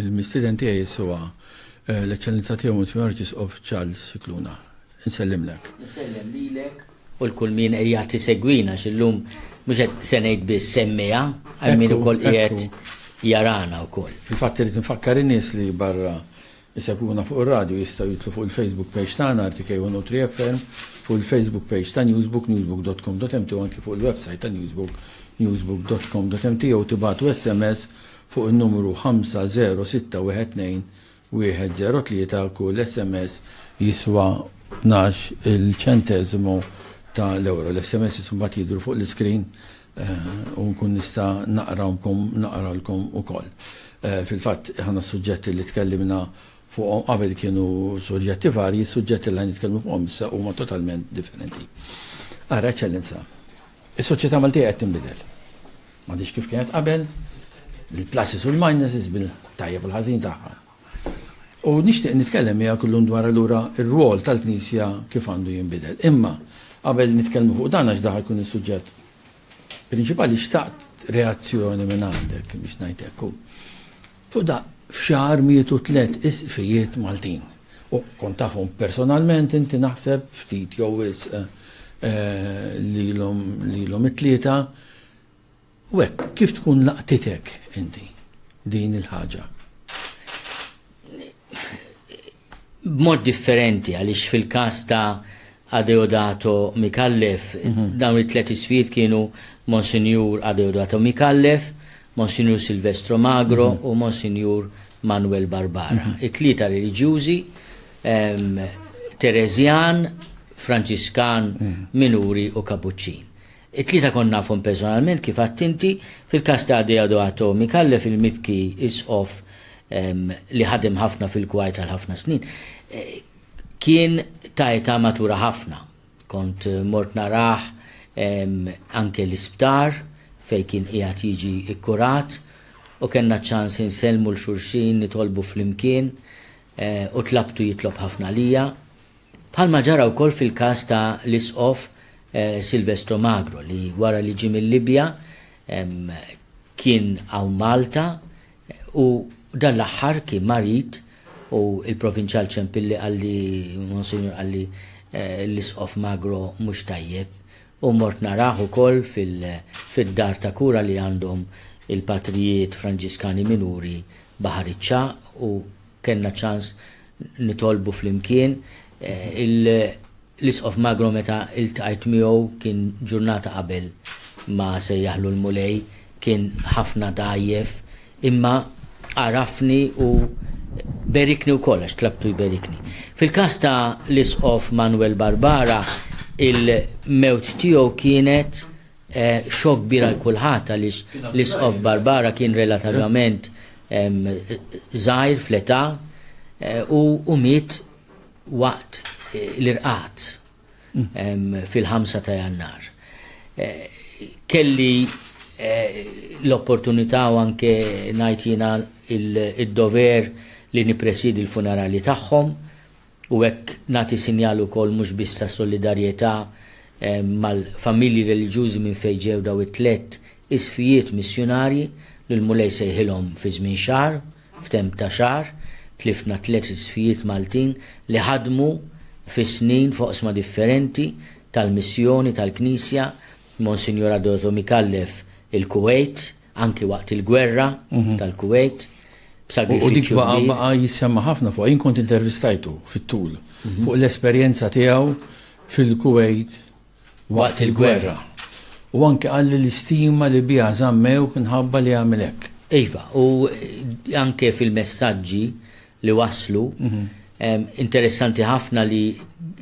il-mistiden tiegħi jiswa eh, l-eċċellenza tiegħu Monsignor Arċisqof Charles Sikluna. Insellimlek. Insellem lilek u l-kull min qiegħed tisegwina x'illum mhux qed se ngħid biss semmiha għal min ukoll qiegħed jarana wkoll. Fil-fatt irid nfakkar in-nies li barra Isegwuna fuq ir-radju jistgħu jidħlu fuq il-Facebook page tagħna RTK 103 FM, fuq il-Facebook page ta' Newsbook, newsbook.com.mt u anki fuq il-websajt ta' Newsbook, newsbook.com.mt jew tibagħtu SMS fuq in-numru 50612 103, kull SMS jiswa tnax-il ċenteżimu ta' l-ewro. L-SMSs imbagħad jidhru fuq l-iskrin u nkun nista' naqrawlkom naqralkom ukoll. Fil-fatt aħna s-suġġetti li tkellimna fuqhom qabel kienu suġġetti varji, is-suġġetti li ħa nitkellmu fuqhom issa huma totalment differenti. Ara, Eċċellenza, is-soċjetà Maltija qed tinbidel. M'għadhiex kif kienet qabel, bil-pluses u l-minuses, bil-tajjeb u l-ħażin tagħha. U nixtieq nitkellem miegħek illum dwar allura r-rwol tal-Knisja kif għandu jinbidel. Imma qabel nitkellmu fuq dan għax daħal kun is-suġġett prinċipali xtaqt reazzjoni minn għandek biex ngħid hekk. Fuq da f'xahar mietu tliet isqfijiet Maltin. U kont tafhom personalment inti naħseb ftit jew wisq eh, lilhom it-tlieta U hekk kif tkun laqtitek inti din il-ħaġa? B'mod differenti għaliex fil-każ ta' Adeodato Mikallef, mhm. dawn it-tlet isfid kienu Monsinjur Adeodato Mikallef, Monsinjur Silvestro Magro mhm. u Monsinjur Manuel Barbara. Mhm. It-tlieta reliġjużi Terezjan, Franċiskan, Minuri u Kapuċċin. It-tlieta kont nafhom personalment kif għedt inti, fil-każ ta' Adeodo Atomi, Kallef il-mibki Isqof li ħadem ħafna fil-kwajr għal ħafna snin, kien ta' età matura ħafna. Kont mort narah anke l-isptar fejn kien qiegħed jiġi kkurat u kellna ċ-ċans insellmu 'l xulxin, nitolbu flimkien u tlabtu jitlob ħafna għalija. Bħalma ġara wkoll fil-każ ta' l-Isqof Silvestro Magro li wara li ġie mil-Libja kien hawn Malta u dan l-aħħar kien marid u l-Provinċjal Ciampilli qalli Monsinjur qalli l-Isqof Magro mhux tajjeb u mort narah ukoll fid-dar ta' kura li għandhom il-Patrijiet Franġiskani Minuri Baħar iċ-Ċagħaq u Kellna ċans nitolbu flimkien. L-Isqof Magro meta ltqajt miegħu kien ġurnata qabel ma sejjaħlu l-Mulej, kien ħafna dgħajjef, imma għarafni u berikni wkoll għax tlabtu jberikni. Fil-każ ta' l-Isqof Manwel Barbara, il-mewt tiegħu kienet, Xokk kbir għal kulħadd għaliex l-Isqof Barbara kien relativament żgħir fl-età u miet waqt l-irqad fil-5 ta' Jannar. Kelli l-opportunità u anke ngħid jiena id-dover li nippresiedi l-funerali tagħhom u hekk nagħti sinjal ukoll mhux biss ta' solidarjetà mal-familji reliġjużi minn fejn ġew dawn it-tliet isqfijiet missjunarji li l-Mulej sejħilhom fi żmien xahar, f'temp ta' xahar, tliftna tliet isqfijiet Maltin li ħadmu fis-snin f'oqsma differenti tal-missjoni tal-Knisja, Monsinjur Adolfo Micallef il-Kuwejt, anki waqt il-gwerra tal-Kuwejt, b'sagrifiċċju. U dik baqa' baqa' jissemma ħafna fuq, jien kont intervistajtu fit-tul mhm. fuq l-esperjenza tiegħu fil-Kuwejt waqt il-gwerra. U anke għal l-istima li biha żammew nħabba li għamilek. Iva, u anke fil-messaġġi li waslu. Interessanti ħafna li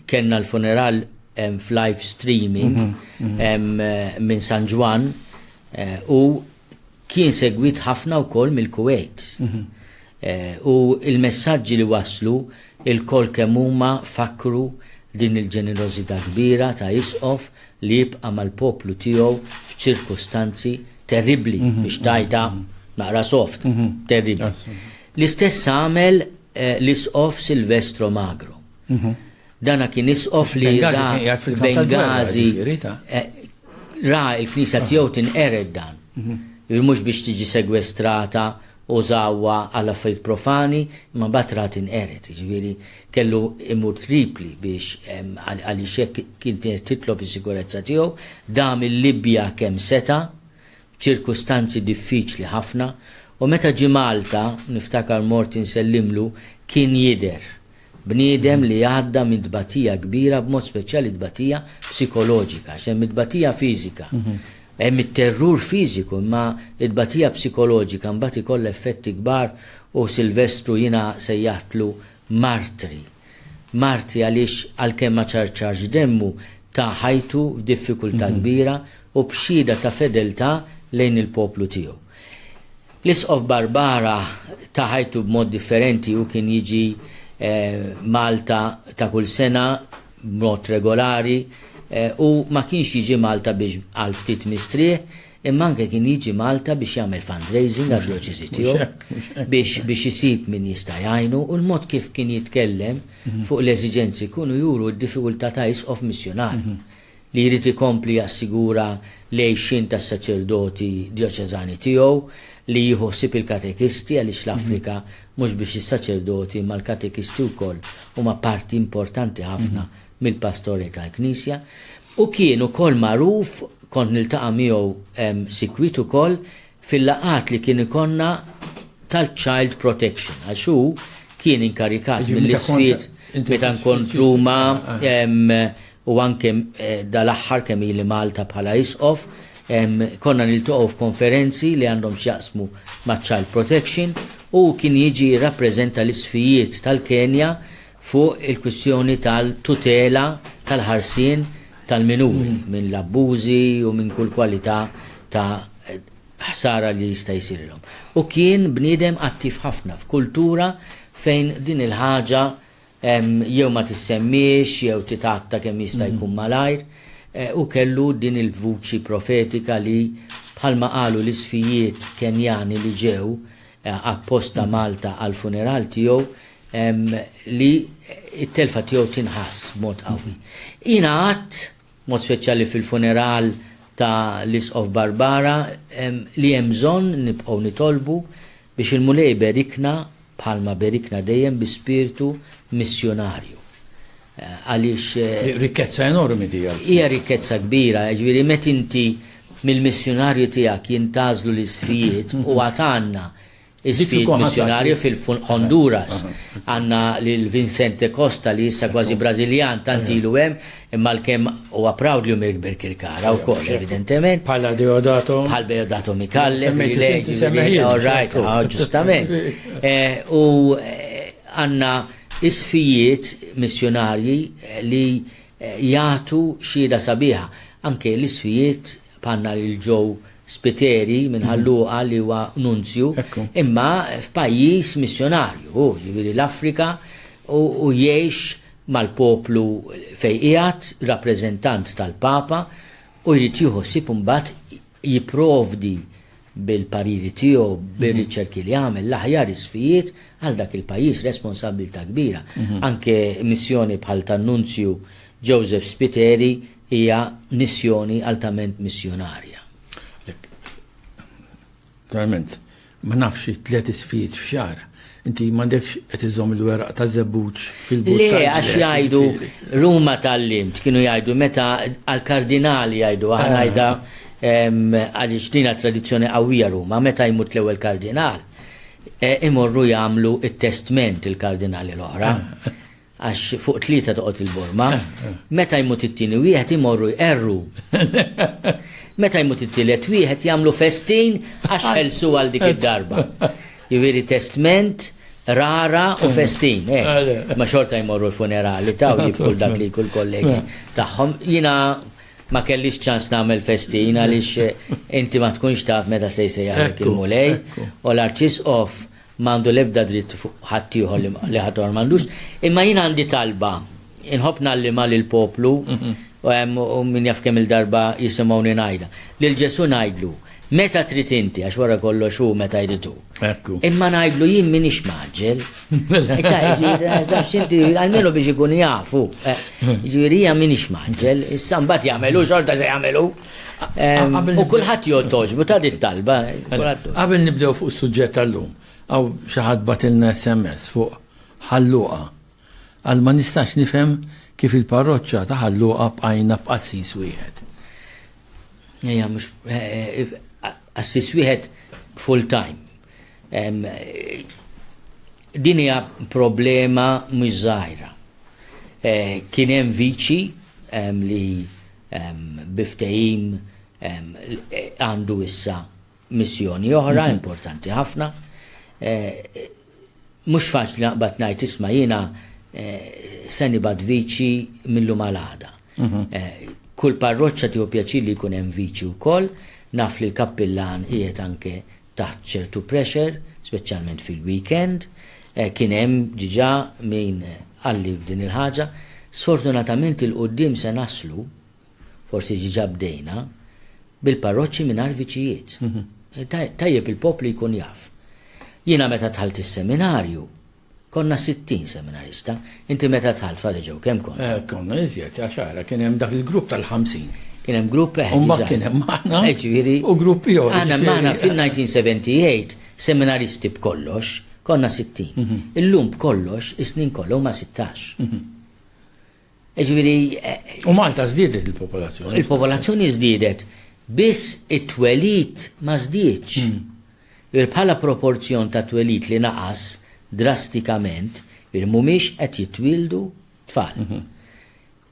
kellna l-funeral f'live streaming minn San Ġwan eh, u kien segwit ħafna wkoll mill-Kuwait. Eh, u il-messaġġi li waslu il-kol kemm huma fakru din il-ġenerożità kbira ta' isqof li jibqa' mal-poplu tiegħu f'ċirkustanzi terribli mhm. biex tajta mhm. naqra soft, mhm. terribli. L-istess għamel eh, l-isqof Silvestro Magro. Mhm. Dana kien isqof li Bengazi eh, ra il-knisa tiegħu tinqered dan. Mhm. Mhux biex tiġi segwestrata u zawa għal affarijiet profani, ma batra tinqeret, ġviri kellu imur tripli biex għaliex kien titlob is-sikurezza tiegħu, dam il-Libja kemm seta' Ċirkustanzi diffiċli ħafna u meta ġie Malta, niftakar mort insellimlu, kien jidher. Bniedem li għadda minn tbatija kbira b'mod speċjali tbatija psikoloġika għax hemm it-tbatija fiżika. Hemm it-terrur fiżiku imma t-tbatija psikoloġika mbagħad ikollha effetti kbar u Silvestru jiena sejjaħtlu martri. Martri għaliex għalkemm ma ċarċarx demmu, ta ħajtu f'diffikultà kbira u b'xhieda ta' fedeltà lejn il-poplu tiegħu. L-Isqof Barbara ta ħajtu b'mod differenti, hu kien jiġi Malta ta' kull sena b'mod regolari u ma kienx jiġi Malta biex għal ftit mistrieħ imma anke kien jiġi Malta biex jagħmel fundraising għad-djoċesi tiegħu biex biex isib min jista' jgħinu u l-mod kif kien jitkellem fuq l-eżiġenzi jkunu juru d-difikultà ta' isqof missjunarju li jrid ikompli jassigura l-għixien tas-saċerdoti djoċeżani tiegħu, li jieħu ħsieb il-katekisti għaliex l-Afrika mhux biex is-saċerdoti imma l-katekisti wkoll huma parti importanti ħafna mill-pastori tal-Knisja, u kien ukoll magħruf, kont niltaqa' miegħu sikwit ukoll fil-laqgħat li kien ikollna tal-Child Protection, għax hu kien inkarikat mill-Isqfiet meta nkont Ruma u anke dal-aħħar kemm ili Malta bħala Isqof, konna niltaqgħu f'konferenzi li għandhom x'jaqsmu maċ-Child Protection, u hu kien jiġi jirrappreżenta l-Isqfijiet tal-Kenja fuq il-kwistjoni tal-tutela tal-ħarsien tal-minuri minn l-abbużi u minn kull kwalità ta' ħsara li jista' jsirilhom. U kien bniedem attiv ħafna f'kultura fejn din il-ħaġa jew ma tissemmiex jew titgħatta kemm jista' jkun malajr. Hu kellu din il-vuċi profetika li, bħalma qalu l-isfijiet Kenjani li ġew, apposta Malta għall-funeral tiegħu li t-telfa tiegħu tinħass b'mod qawwi. Jiena għadt, b'mod speċjali fil-funeral ta' l-Isqof Barbara, li hemm bżonn nibqgħu nitolbu biex il-Mulej iberikna bħalma berikna dejjem bi spirtu missjunarju. Għaliex. Rikkezza enormi di. Hija rikkezza kbira, jiġifieri meta inti mill-missjunarju tiegħek jintgħażlu l-isfijiet u għad għandna isfijiet missjunarju fil-Honduras. Għandna lil Vincente Costa li issa kważi Brażiljan tant ilu hemm imma l-kemm huwa proud li hu mill-Birkirkara wkoll evidentement. Bħala Deodato. Bħal Deodato Mikalle. Semmejt. All right, ġustament. U għandna Isqfijiet missjunarji li jagħtu xhieda sabiħa. Anke l-isqfijiet bħalna lil Joe Spiteri minn Ħal Luqa li huwa nunzju, imma f'pajjiż missjunarju hu, jiġifieri l-Afrika, u jgħix mal-poplu fejn qiegħed, rappreżentant tal-Papa, u jrid jieħu ħsieb imbagħad jipprovdi bil-pariri tiegħu, mhm. bir-riċerki li għamel l-aħjar isfijiet għal dak il-pajjiż responsabilità kbira. Mhm. Anke missjoni bħal tan-Nunzju Joseph Spiteri hija missjoni altament missjonarja. Verament, Ma nafx, tliet isfijiet f'xahar. Inti m'għandekx qed iżżomm il-weraq ta' żebbuġ fil-but tal-ġled. Le, għax jgħidu, Ruma tgħallimt, kienu jgħidu meta għall-kardinali jgħidu, aħna ngħidha għaliex din hija tradizzjoni qawwija Ruma, meta jmut l-ewwel kardinal, imorru jagħmlu t-testment il-kardinali l-oħra. għax fuq tlieta toqgħod il-borma, meta jmut it-tieni wieħed imorru jqerru. Meta jmut it-tielet wieħed jagħmlu festin għax ħelsu għal dik id-darba. Jiġifieri testment, rara u festin. Eh. Ma xorta jmorru l-funerali ta' u jibku dak li kull kollegi tagħhom. Jina ma kellix ċans nagħmel festin għaliex eh, inti ma tkunx taf meta se jsejjaħek il-mulej u l-arċis off Ma għandu l-ebda dritt fuq ħaddieħor li ma, li ħaddieħor m'għandux. Imma jien għandi talba. Inħobb ngħallimha lill-poplu u hemm u min jaf kemm-il darba jisimgħuni ngħidha. Lil Ġesù ngħidlu, Meta trid inti, għax wara kollox hu meta jrid hu. Ekku. Imma ngħidlu jien m'iniex mgħaġġel. Ita, jiġifieri, għax inti almenu biex ikun jafu. eh, Jiġifieri hija m'iniex mgħaġġel, issa mbagħad jagħmelu xorta se jagħmelu. U kulħadd jgħod toġbu ta' dit talba. Qabel nibdew fuq is-suġġett tal-lum, għaw xi ħadd batilna SMS fuq ħalluqa. Għal ma nistax nifhem kif il-parroċċa ta' ħalluqa bqajna b'qassis wieħed. Ejja, mhux eh, eh, qassis wieħed full time. Din hija problema mhux żgħira. Eh, kien hemm viċi li Bi ftehim għandu issa missjoni oħra mhm. importanti ħafna. Eh, mhux faċli naqbad ngħid isma' jiena eh, se nibad viċi millu malada. Mhm. Eh, kull parroċċa tiegħu pjaċir li jkun hemm viċi wkoll, naf li l-kappillan qiegħed anke taħt ċertu pressure, speċjalment fil-weekend, kien hemm diġà min qalli f'din il-ħaġa. Sfortunatament 'il quddiem se naslu, forsi diġà bdejna, bil-parroċċi mingħajr viċijiet. Tajjeb il-poplu jkun jaf. Jiena meta dħalt is-seminarju, Konna sittin seminarista. Inti meta dħalt f'Għali Ġew kemm kont? Eh, konna iżjed, għax ara kien hemm dak il-grupp tal-ħamsin. Kien hemm grupp eħ. U mbagħad kien hemm aħna. Eh, ġifieri. U grupp ieħor. Aħna magħna fil-1978 seminaristi b'kollox konna sittin. Mhm. Illum b'kollox is-snin kollha huma sittax. Mhm. Jiġifieri. U Malta żdiedet il-popolazzjoni. Il-popolazzjoni żdiedet, biss it-twelid ma żdiedx. Jiġifieri bħala proporzjon ta' twelid li naqas drastikament, jiġifieri mhumiex qed jitwieldu tfal.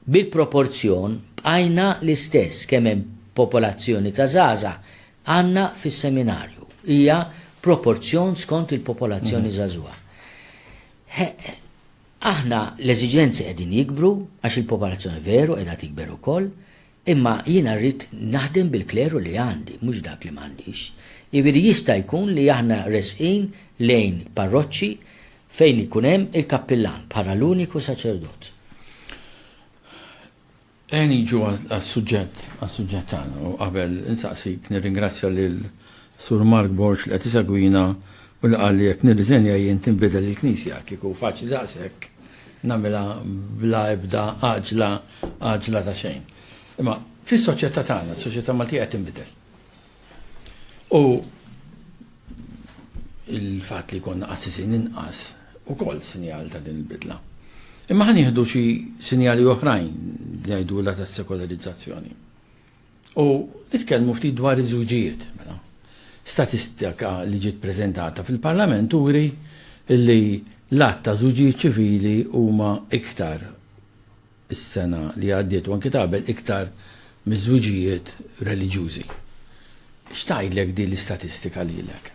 Bil-proporzjon bqajna l-istess kemm hemm popolazzjoni ta' żgħażagħ għandna fis-seminarju. Hija proporzjon skont il-popolazzjoni żagħżugħa. Aħna l-eżiġenzi qegħdin jikbru għax il-popolazzjoni veru qiegħda tikber ukoll, imma jiena rrid naħdem bil-kleru li għandi, mhux dak li m'għandix. Jiġifieri jista' jkun li aħna resqin lejn parroċċi fejn ikun hemm il-kappillan bħala l-uniku saċerdot. Ejja niġu għas-suġġett, għas-suġġett tagħna u qabel insaqsik nirringrazzja lil Sur Mark Borg li qed isegwina u li qal li jekk nirriżenja jien tinbidel il-Knisja. Kieku faċli daqshekk nagħmilha bla ebda għaġla, għaġla ta' xejn. Imma fis-soċjetà tagħna, s-soċjetà Maltija qed tinbidel. U il-fatt li konna qassisin inqas ukoll sinjal ta' din il-bidla. Imma ħan jieħdu xi sinjali oħrajn li jgħidu la tas-sekolarizzazzjoni. U nitkellmu ftit dwar iż-żwiġijiet. Mela. Statistika li ġiet preżentata fil-Parlament uri li l-att ta' żwiġijiet ċivili huma iktar is-sena li għaddiet u anki ta' qabel iktar miż-żwiġijiet reliġjużi. X'tgħidlek din l-istatistika lilek?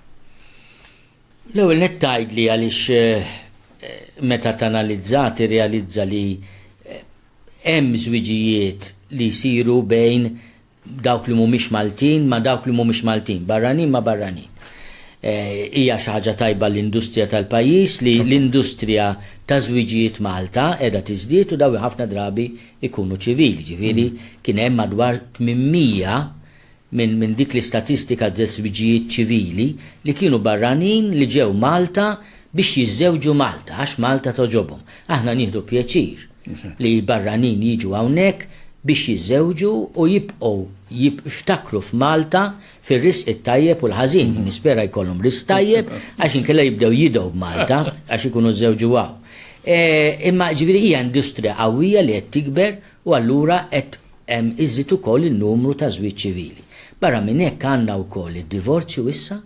L-ewwel nett tgħidli għaliex meta tanalizza tirrealizza li hemm żwiġijiet li jsiru bejn dawk li mhumiex Maltin ma' dawk li mhumiex Maltin, barranin ma' barranin. Hija xi ħaġa tajba għall-industrija tal-pajjiż li l-industrija ta' żwiġijiet Malta qiegħda tiżdied u dawn ħafna drabi jkunu ċivili, ġifieri kien hemm madwar 800 minn dik l-istatistika ta' żwiġijiet ċivili li kienu barranin li ġew Malta biex jiżżewġu Malta għax Malta togħġobhom. Aħna nieħdu pjaċir. li l-barranin jiġu hawnhekk biex jiżżewġu u jibqgħu jiftakru f'Malta fir-risq it-tajjeb u l-ħażin. Nispera jkollhom risq tajjeb għax inkella jibdew jidgħu b'Malta għax ikunu żżewġu hawn. Imma ġifieri hija industrija qawwija li qed tikber u allura qed iżżid ukoll in-numru ta' żwieġ ċivili. Barra minn hekk għandna wkoll id-divorzju issa.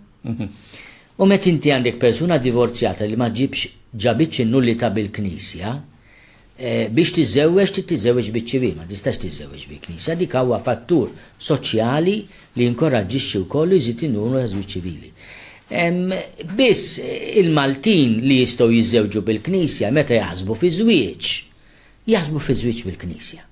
U meta inti għandek persuna divorzjata li ma ġġibx ġabitx in-nullità bil-Knisja, biex tiżżewweġ trid tiżżewweġ biċ-ċivil, ma tistax tiżżewweġ bil-Knisja, dik huwa fattur soċjali li jinkoraġġixxi wkoll u jżid in-numru taż-żwieġ ċivili. Biss il-Maltin li jistgħu jiżżewġu bil-Knisja meta jaħsbu fi żwieġ, jaħsbu fi żwieġ bil-Knisja.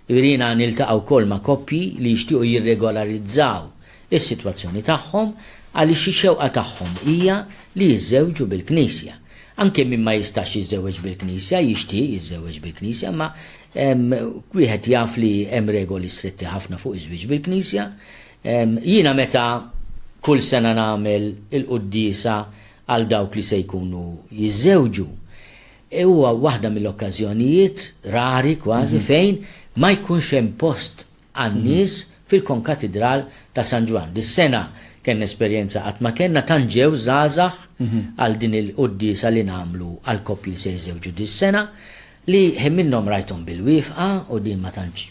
Jiġifieri jiena niltaqa' wkoll ma' koppji li jixtiequ jirregolarizzaw is-sitwazzjoni tagħhom għaliex ix-xewqa tagħhom hija li jiżżewġu bil-Knisja. Anke min ma jistax jiżżewweġ bil-Knisja jixtieq jiżżewweġ bil-Knisja imma wieħed jaf li hemm regoli stretti ħafna fuq iż-żwieġ bil-Knisja. Jiena meta kull sena nagħmel il-quddiesa għal dawk li se jkunu jiżżewġu, Huwa waħda mill-okkażjonijiet rari kważi fejn ma jkunx hemm post għan-nies fil-Konkatidral ta' San Ġwann. Dis-sena kellna esperjenza qatt ma kellna, tant ġew żgħażagħ għal din il-quddiesa li nagħmlu għall-koppji li se jiżżewġu dis-sena, li ħin minnhom rajthom bil-wieqfa u din ma tantx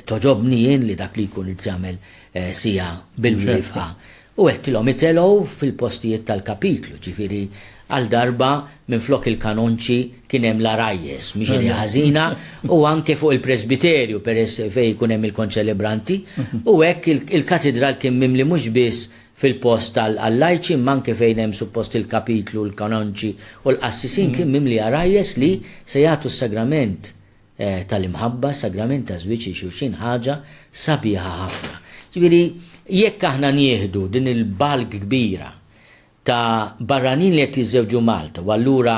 togħġobni jien li dak li jkun irid jagħmel siegħa bil-wieqfa. U hekk ilhom itelgħu fil-postijiet tal-kapitlu, ġifieri għal darba minflok il-kanonċi kien hemm l-għarajjes, mhix idea ħażina, u anke fuq il-presbiterju peress fejn ikun hemm il-konċelebranti, u hekk il-katidral kien mimli mhux biss fil-post għal-lajċi imma anke fejn hemm suppost il-kapitlu, l-kanonċi u l-qassisin kien mimli għarajjes li se jagħtu s-sagrament tal-imħabba, s-sagrament taż-żwieġ lil xulxin ħaġa sabiħa ħafna. Ġifieri jekk aħna nieħdu din il-bulk kbira ta' barranin li qed jiżżewġu Malta u allura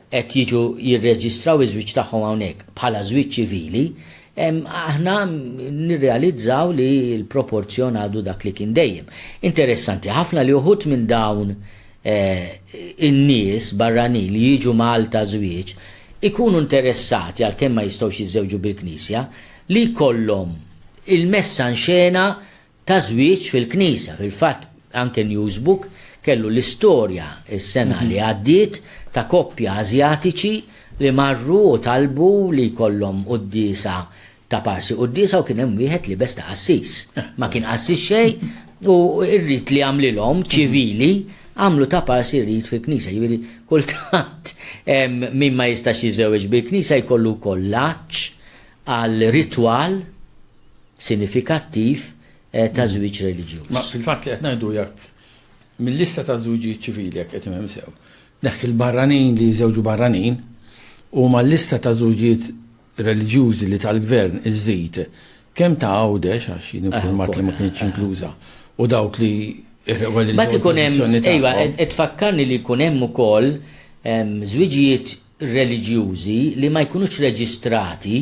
qed jiġu jirreġistraw iż-żwieġ tagħhom hawnhekk bħala żwieġ ċivili, aħna nirrealizzaw li l-proporzjon għadu dak li kien dejjem. Interessanti ħafna li uħud minn dawn in-nies barranin li jiġu Malta żwieġ ikunu interessati, għalkemm ma jistgħux jiżżewġu bil-Knisja, li jkollhom il-messa nxena ta' żwieġ fil-Knisja. Fil-fatt anke Newsbook kellu l-istorja s-sena li għaddiet ta' koppja Ażjatiċi li marru u talbu li jkollhom quddiesa Ta' parsi quddiesa u kien hemm wieħed libes ta' qassis. Ma kien qassis xejn u r-rit li għamlilhom ċivili għamlu ta' parsi rit fil-knisja. Jiġifieri kultant min ma jistax jiżewweġ bil-knisja jkollu wkoll l-għatx għal ritwal sinifikattiv eh, ta' żwieġ reliġjuż. Ma fil-fatt li qed ngħidu jekk mill-lista ta' żwiġijiet ċivili jekk qed imhem sew. Nek il-barranin li jżewġu barranin u ma l-lista ta' żwiġijiet reliġjużi li tal-Gvern iżżid kemm ta' Għawdex, għax jien infurmat li ma kinitx inkluża, u dawk li r-reliġjon tradizzjonali tagħhom. Mbagħad ikun hemm, ejwa, qed tfakkarni li jkun hemm ukoll żwiġijiet reliġjużi li ma jkunux reġistrati,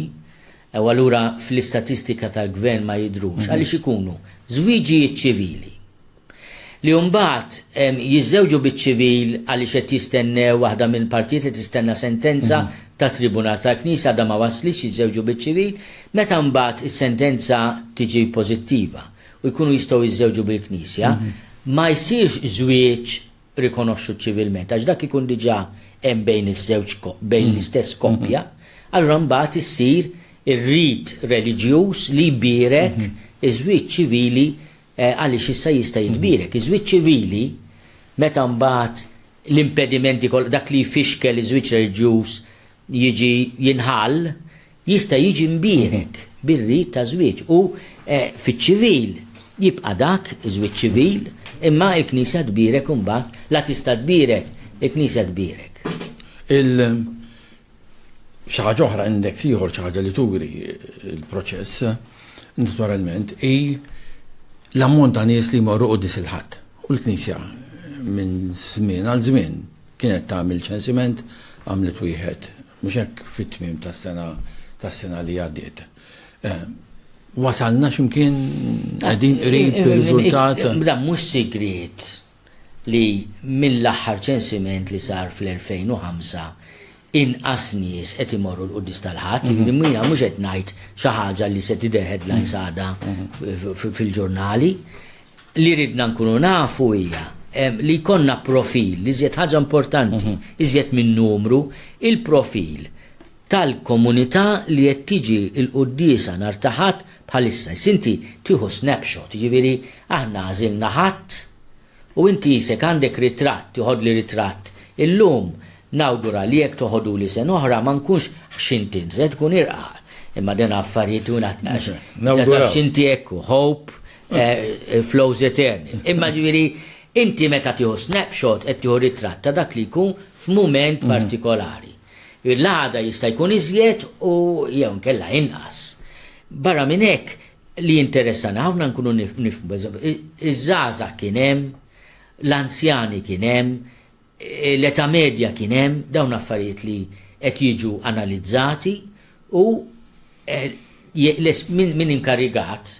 u allura fl-istatistika tal-Gvern ma jidhrux, għaliex ikunu żwiġijiet ċivili. li mbagħad jiżżewġu biċ-ċivil għaliex qed jistennew waħda mill-partijiet qed tistenna sentenza tat-tribunal tal-Knisja għadha ma waslitx jiżżewġu biċ-ċivil, meta mbagħad is-sentenza tiġi pożittiva u jkunu jistgħu jiżżewġu bil-Knisja, ma jsirx żwieġ rikonoxxut ċivilment għax dak ikun diġà hemm bejn iż-żewġ bejn l-istess koppja, allura mbagħad issir ir-rit reliġjuż li jbierek iż-żwieġ ċivili Għaliex issa jista' jitbierek iż-żwieġ ċivili meta mbagħad l-impedimenti kollha, dak li jfixkel iż-żwieġ reliġjuż jiġi jinħall, jista' jiġi mbierek bir-rit ta' żwieġ u fiċ-ċivil jibqa' dak iż-żwieġ ċivil imma l-Knisja tbierek imbagħad, la tista' tbierek, il-Knisja tbierek. Il. Xi ħaġa oħra, index ieħor, xi ħaġa li turi l-proċess, naturalment, hi l-ammont ta' nies li jmorru quddis il-Ħadd. U l-Knisja minn żmien għal żmien kienet tagħmel ċensiment għamlet wieħed mhux hekk fit-tmiem tas-sena tas-sena li għaddiet. Eh, wasalna x'imkien qegħdin qrib ir-riżultat. Mhux sigriet li mill-aħħar ċensiment li sar fl-2005 inqas nies qed imorru l-Quddies tal-Ħadd, jiġifieri mhm. jiena mhux qed ngħid xi ħaġa li se tidher headlines mhm. għadha mhm. fil-ġurnali. Li ridna nkunu nafu hija li jkollna profil, li żjed ħaġa importanti, iżjed minn numru, il-profil tal-komunità li qed tiġi l-quddiesa nhar ta' Ħadd bħalissa. Issa inti tieħu snapshot, jiġifieri aħna għażilna Ħadd u inti isek għandek ritratt, tiħodli ritratt illum, nawgura li jekk toħoduli sena oħra ma nkunx ħxint int, se tkun irqaq. Imma dena affarijiet u nat għax. Nawgura. X'inti hekk hope eh, flows eterni. Imma ġifieri inti meta tieħu snapshot qed tieħu ritratt ta' dak li jkun f'mument mm. partikolari. L-għada jista' jkun iżjed u jew inkella inqas. Barra minn hekk, li jinteressana ħafna nkunu nifhmu, pereżempju, iż-żgħażagħ kien hemm, l-anzjani kien hemm, l-età medja kien hemm, dawn affarijiet li qed jiġu analizzati u min inkarigat,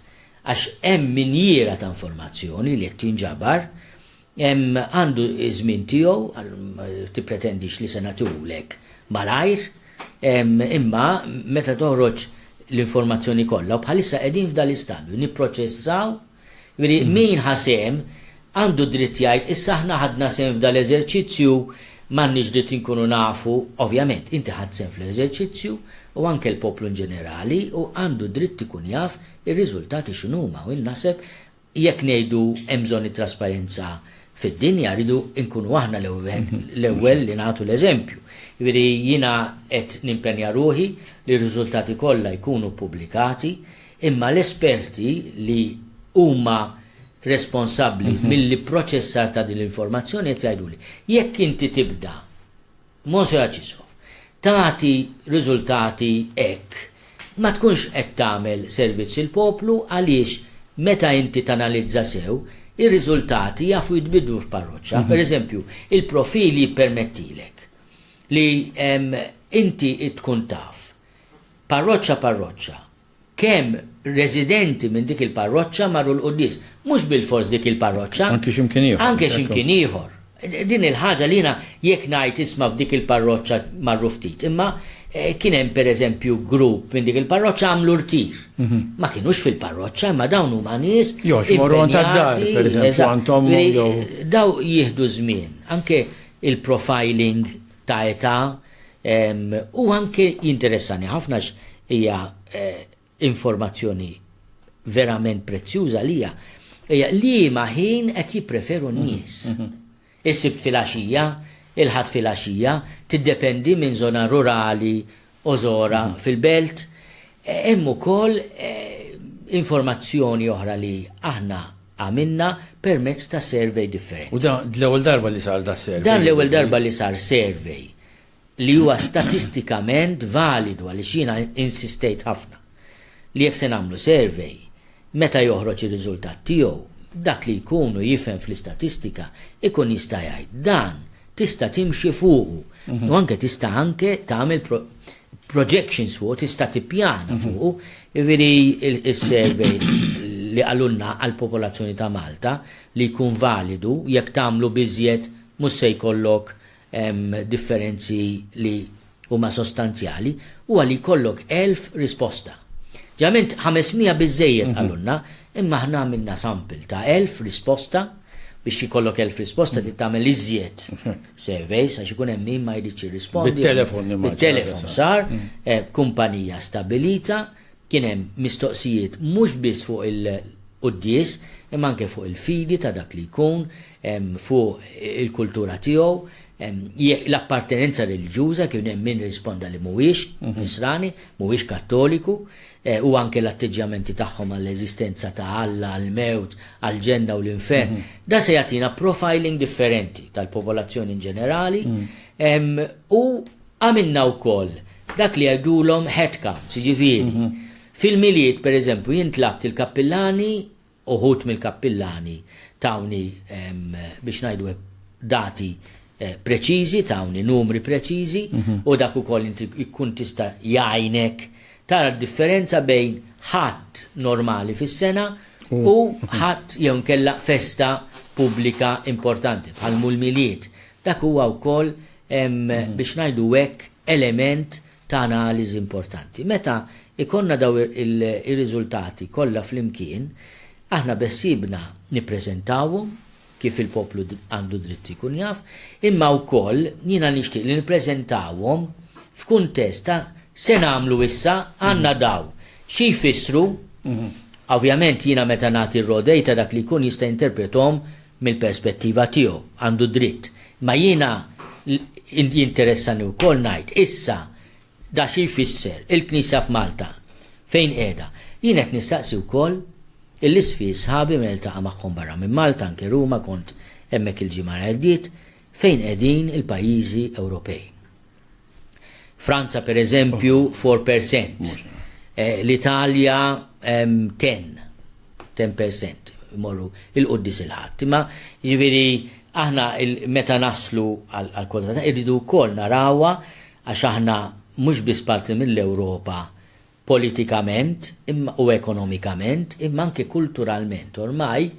għax hemm minjiera ta' informazzjoni li qed tinġabar, Għandu ż-żmien tiegħu, ma tippretendix li se nagħtihulek malajr, imma meta toħroġ l-informazzjoni kollha, u bħalissa qegħdin f'dan l-istadju, nipproċessaw, jiġifieri min ħa sehem għandu d-dritt jgħid issa aħna ħadna sehem f'dan l-eżerċizzju, m'għandniex dritt inkunu nafu, ovvjament inti ħadt sehem fl-eżerċizzju u anke l-poplu inġenerali u għandu d-dritt ikun jaf ir-riżultati x'inhuma u jien naħseb Jekk ngħidu hemm bżonn it-trasparenza fid-dinja, rridu nkunu aħna l-ewwel li nagħtu l-eżempju. Jiġifieri jiena qed nimpenja ruħi li r-riżultati kollha jkunu ppubblikati, imma l-esperti li huma responsabbli mill-ipproċessar ta' din l-informazzjoni qed jgħiduli, jekk inti tibda Moshe Acisov, Tagħti riżultati hekk ma tkunx qed tagħmel servizz il-poplu għaliex meta inti tanalizza sew, ir-riżultati jafu jitbiddlu f'parroċċa. Pereżempju, il-profil jippermettilek li inti tkun taf parroċċa parroċċa, Kemm residenti minn dik il-parroċċa marru l-quddies. Mhux bilfors dik il-parroċċa. Anke x'imkien ieħor. Anke x'imkien ieħor. Din il-ħaġa li jiena jekk ngħid isma' f'dik il-parroċċa marru ftit. Imma kien hemm pereżempju grupp minn dik il-parroċċa għamlu rtir. Ma kinux fil-parroċċa imma dawn huma nies. Jo xi morru għand tad-dar, pereżempju għand ommhom jew. Dawn jieħdu żmien. Anke il-profiling ta' età u anke jinteressani ħafna għax hija informazzjoni verament prezzjuża għalija, hija liema ħin qed jippreferu n-nies. Is-Sibt filgħaxija, il-Ħadd filgħaxija, tiddependi minn żona rurali Ozora fil-Belt, hemm ukoll informazzjoni oħra li aħna għamilna permezz ta' survey differenti. U dan l-ewwel darba li sar da' survey? Dan l-ewwel darba li sar survey li huwa statistikament validu għaliex jiena insistejt ħafna li jekk se nagħmlu survey, meta joħroġ ir-riżultat tiegħu, dak li jkun u jifhem fl-istatistika jkun jista' jgħid, dan tista' timxi fuqu u anke tista' anke tagħmel projections fuqu, tista' tippjana fuqu. Jiġifieri is-survey li qalulna għall-popolazzjoni ta' Malta li jkun validu jekk tagħmlu biżjed mhux se jkollok hemm differenzi li huma sostanzjali, huwa li jkollok elf risposta. Ġeneralment 500 biżżejjed qalulna, imma aħna għamilna sample ta' elf risposta, biex ikollok elf risposta trid tagħmel iżjed surveys għax ikun hemm min ma jridx jirrispondi. Bit-telefon nimmaġina. Bit-telefon sar, kumpanija stabbilita, kien hemm mistoqsijiet mhux biss fuq il-quddies, imma anke fuq il-fidi ta' dak li jkun, fuq il-kultura tiegħu, l-appartenenza reliġjuża, kien hemm min risponda li mhuwiex Nisrani, mhuwiex Kattoliku, u anke l-atteġġjamenti tagħhom għall-eżistenza ta' Alla, għall-mewt, għall-ġenna u l-infern. Dan se jagħtina profiling differenti tal-popolazzjoni in ġenerali u għamilna wkoll dak li jgħidulhom headcounts, jiġifieri fil-Milied, pereżempju, jien tlabt il-kappillani, Uħud mill-kappillani tawni, biex ngħidu hekk, dati preċiżi, tawni numri preċiżi, u dak ukoll inti jkun tista' jgħinek tara d-differenza bejn Ħadd normali fis-sena u Ħadd jew inkella festa pubblika importanti, bħal mul-Milied. Dak huwa wkoll, biex ngħidu hekk, element ta' analiżi importanti. Meta jkollna dawn ir-riżultati kollha flimkien, aħna beħsiebna nippreżentawhom, kif il-poplu għandu dritt jkun jaf, imma wkoll jiena nixtieq li nippreżentawhom f'kuntest ta' se nagħmlu issa, għandna dawn, xi jfissru, ovvjament jiena meta nagħti r-raw data dak li jkun jista' jinterprethom, mill-perspettiva tiegħu, għandu dritt. Imma jiena jinteressani wkoll ngħid, issa, da xi jfisser, il-Knisja f'Malta fejn qiegħda? Jien qed nistaqsi wkoll il-Isqfijiet sħabi meta niltaqa' magħhom barra minn Malta, anke Ruma, kont hemmhekk il-ġimgħa li għaddiet, fejn qegħdin il-pajjiżi Ewropej? Franza per eżempju 4%, eh, l-Italja 10, 10% morru il-qoddis il-ħadd. Imma ġifieri aħna meta naslu għal kwota ta' irridu wkoll narawha għax aħna mhux biss parti mill-Ewropa politikament u ekonomikament imma anke kulturalment. Ormai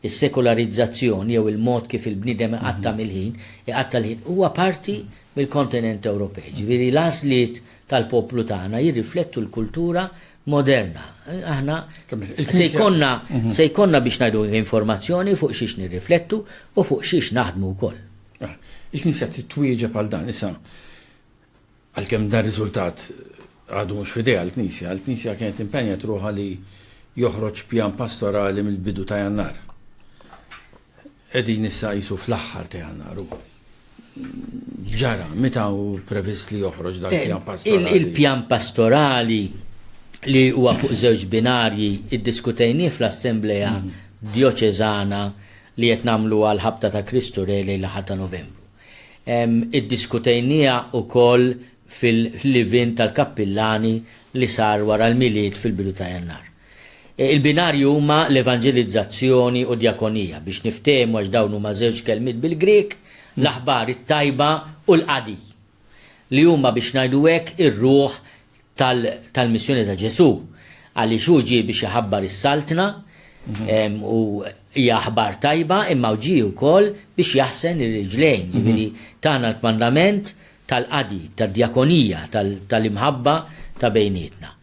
is-sekularizzazzjon jew il-mod kif il-bniedem iqatta' mill-ħin, iqatta' l-ħin, huwa parti mill-kontinent Ewropej. Ġifieri l-għażliet tal-poplu tagħna jirriflettu l-kultura moderna. Aħna se jkollna se jkollna biex ngħidu informazzjoni fuq xiex nirriflettu u fuq xiex naħdmu wkoll. Il-Knisja trid twieġeb għal dan issa. Għalkemm dan riżultat għadu mhux f'idejha l-Knisja, l-Knisja kienet impenjat ruħha li joħroġ pjan pastorali mill-bidu ta' Jannar. Qegħdin issa qisu fl-aħħar ta' Jannar u ġara, meta hu previst li joħroġ dan il-pjan eh, pastorali? Il-pjan pastorali li huwa fuq żewġ binarji iddiskutejni fl-Assembleja mm. Dioċezana li qed nagħmlu għal ħabta ta' Kristu Rej lejn l-ħadd ta' Novembru. Iddiskutejniha wkoll fil-live-in tal-kappillani li sar wara l-Milied fil-bidu ta' Jannar. Il-binarji huma l-evanġelizzazzjoni u d-djakonija, biex niftehmu għax dawn huma żewġ kelmiet bil-Grieg, l-aħbar it-tajba u l-qadi, li huma biex ngħidu hekk ir-ruħ tal-missjoni ta' Ġesù, għaliex hu ġie biex iħabbar is-Saltna u hija aħbar tajba, imma hu ġie wkoll biex jaħsen ir-riġlejn, jiġifieri tana l-kmandament tal-qadi, tad-djakonija, tal-imħabba ta' bejnietna.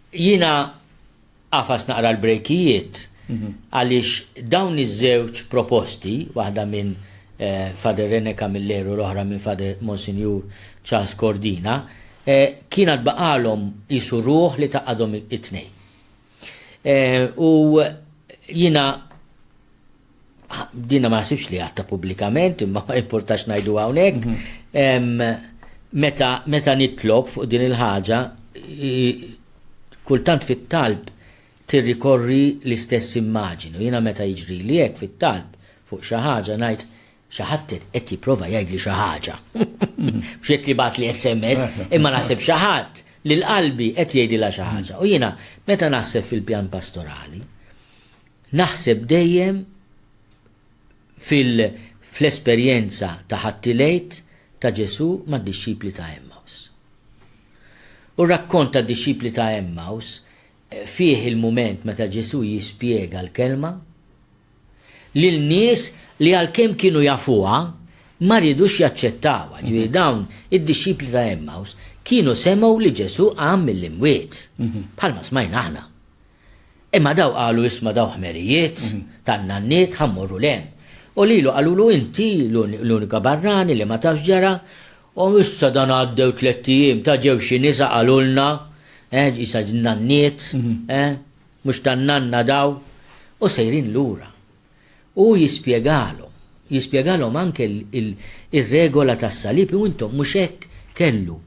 Jiena Agħfas naqra l-brejkijiet għaliex dawn iż-żewġ proposti, waħda minn Father Rene Camilleri u l-oħra minn Father Monsinjur Charles Cordina, kien għad baqgħalhom qisu ruħ li tgħaqqadhom it-tnejn. U jiena Dinha ma naħsibx li għatta pubblikament, imma ma importax ngħidu hawnhekk. Mhm. Meta meta nitlob fuq din il-ħaġa, kultant fit-talb tirrikorri l-istess immaġinu. Jiena meta jiġri li hekk fit-talb fuq xi ħaġa ngħid xi ħadd qed jipprova jgħidli xi ħaġa. Mhm. B'xek li bat li SMS, imma naħseb xi ħadd li l-qalbi qed jgħidilha xi ħaġa. U jiena meta naħseb fil-pjan pastorali, Naħseb dejjem fil-esperjenza ta' Ħadd il-Għid ta' Ġesù mad-dixxipli ta' Għemmaws. U r-rakkont tad-dixxipli ta' Għemmaws fih il-mument meta Ġesù jispjega l-Kelma lil nies li għalkemm kienu jafuha ma riedux jaċċettawha. Ġifieri dawn id-dixxipli ta' Għemmaws kienu semgħu li Ġesù qam mill-imwiet, bħalma smajna aħna. Imma daw qalu isma' daw ħmerijiet tan-nanniet ħa mmorru 'l hemm. U lilu qalulu inti l-unika barrani li ma tafx ġara u issa dan għaddew tlett ijiem ta' ġew xi nisa qalulna, eh, qisha n-nanniet, eh, mhux tan-nanna daw, u sejrin lura. Hu jispjegalhom, jispjegalhom anke r-regola tas-salib, u intom mhux hekk kellu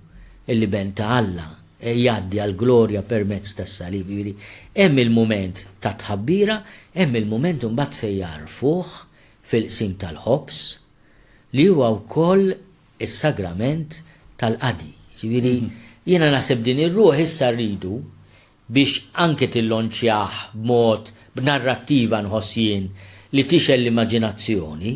l-Iben ta' Alla jgħaddi għall-glorja permezz tas-salib. Jiġifieri hemm il-mument tat-tħabbira, hemm il-mument imbagħad fejn jgħarrfuh fil-qsim tal-ħobż, li huwa wkoll is-sagrament tal-qadi. Jiġifieri jiena naħseb din ir-ruħ issa rridu biex anke tillonċjah b'mod, b'narrattiva nħoss jien, li tixgħel l-immaġinazzjoni,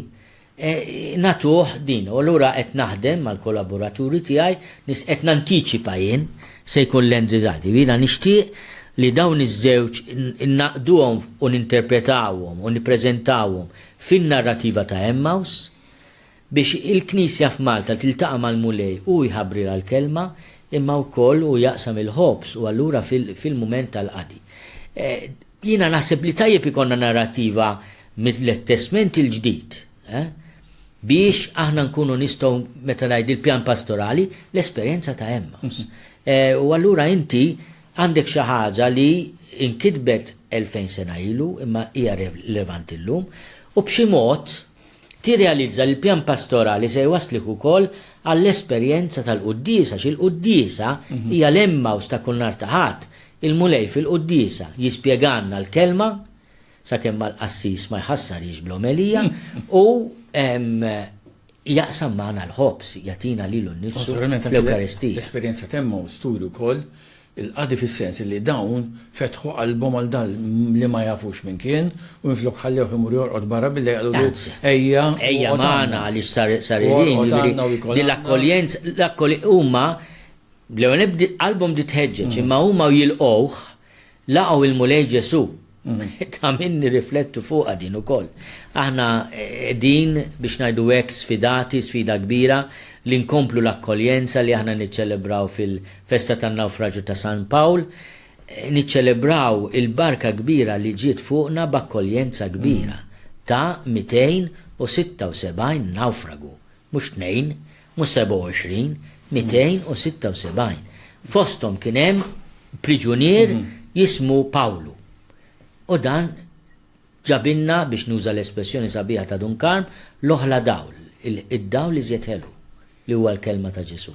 nagħtuh din. U allura qed naħdem mal-kollaboraturi tiegħi, qed nantiċipa jien, se jkun l-end result. Jiena nixtieq li dawn iż-żewġ ingħaqduhom u ninterpretawhom u nippreżentawhom fin-narrattiva ta' Emmaus, Biex il-Knisja f'Malta tiltaqa' mal-Mulej hu jħabbrilha l-Kelma imma wkoll hu jaqsam il-ħobż u allura fil-mument tal-qadi. Jiena naħseb li tajjeb ikollna narrattiva mill-Testment il-Ġdid biex aħna nkunu nistgħu meta ngħid il-pjan pastorali l-esperjenza ta' Emmaus. U allura inti għandek xi ħaġa li nkitbet elfejn sena ilu imma hija rilevanti llum u b'xi mod Tirrealizza li l-pjan pastorali se jwasslik ukoll għall-esperjenza tal-Quddiesa għax il-Quddiesa hija l-Emmaus ta' kull nhar ta' Ħadd. Il-Mulej fil-Quddiesa jispjegalna l-Kelma, sakemm mal-qassis ma jħassarhiex bl-omelija, u jaqsam magħna l-ħobż, jagħtina lilu nnifsu fl-Ewkaristija. L-esperjenza t'Emmaus turi wkoll Il-qadi fis-sens li dawn fetħu qalbhom għal dan li ma jafux min kien u minflok ħallewh imur jorqod barra billi qalulu ejja u orqod għandna. Ejja magħna għaliex sar sar il-ħin, jiġifieri din l-akkoljenza, l-akkoljenza, huma l-ewwel qalbhom bdiet tħeġġeġ imma huma u jilqgħuh laqgħu l-Mulej Ġesù. Ta' min nirriflettu fuqha din ukoll. Aħna qegħdin biex ngħidu hekk sfidati, sfida kbira, li nkomplu l-Akkoljenza li aħna niċċelebraw fil-festa tan-Nawfraġju ta' San Pawl, niċċelebraw il-barka kbira li ġiet fuqna b'akkoljenza kbira ta' 276 nawfragu, mhux tnejn, Mhux 27, 276. Fosthom kien hemm priġunier jismu Pawlu. U dan ġabilna, biex nuża l-espressjoni sabiħa ta' Dun Karm, l-oħla dawl, id-dawl iżjed ħelu, li huwa l-kelma ta' Ġesù.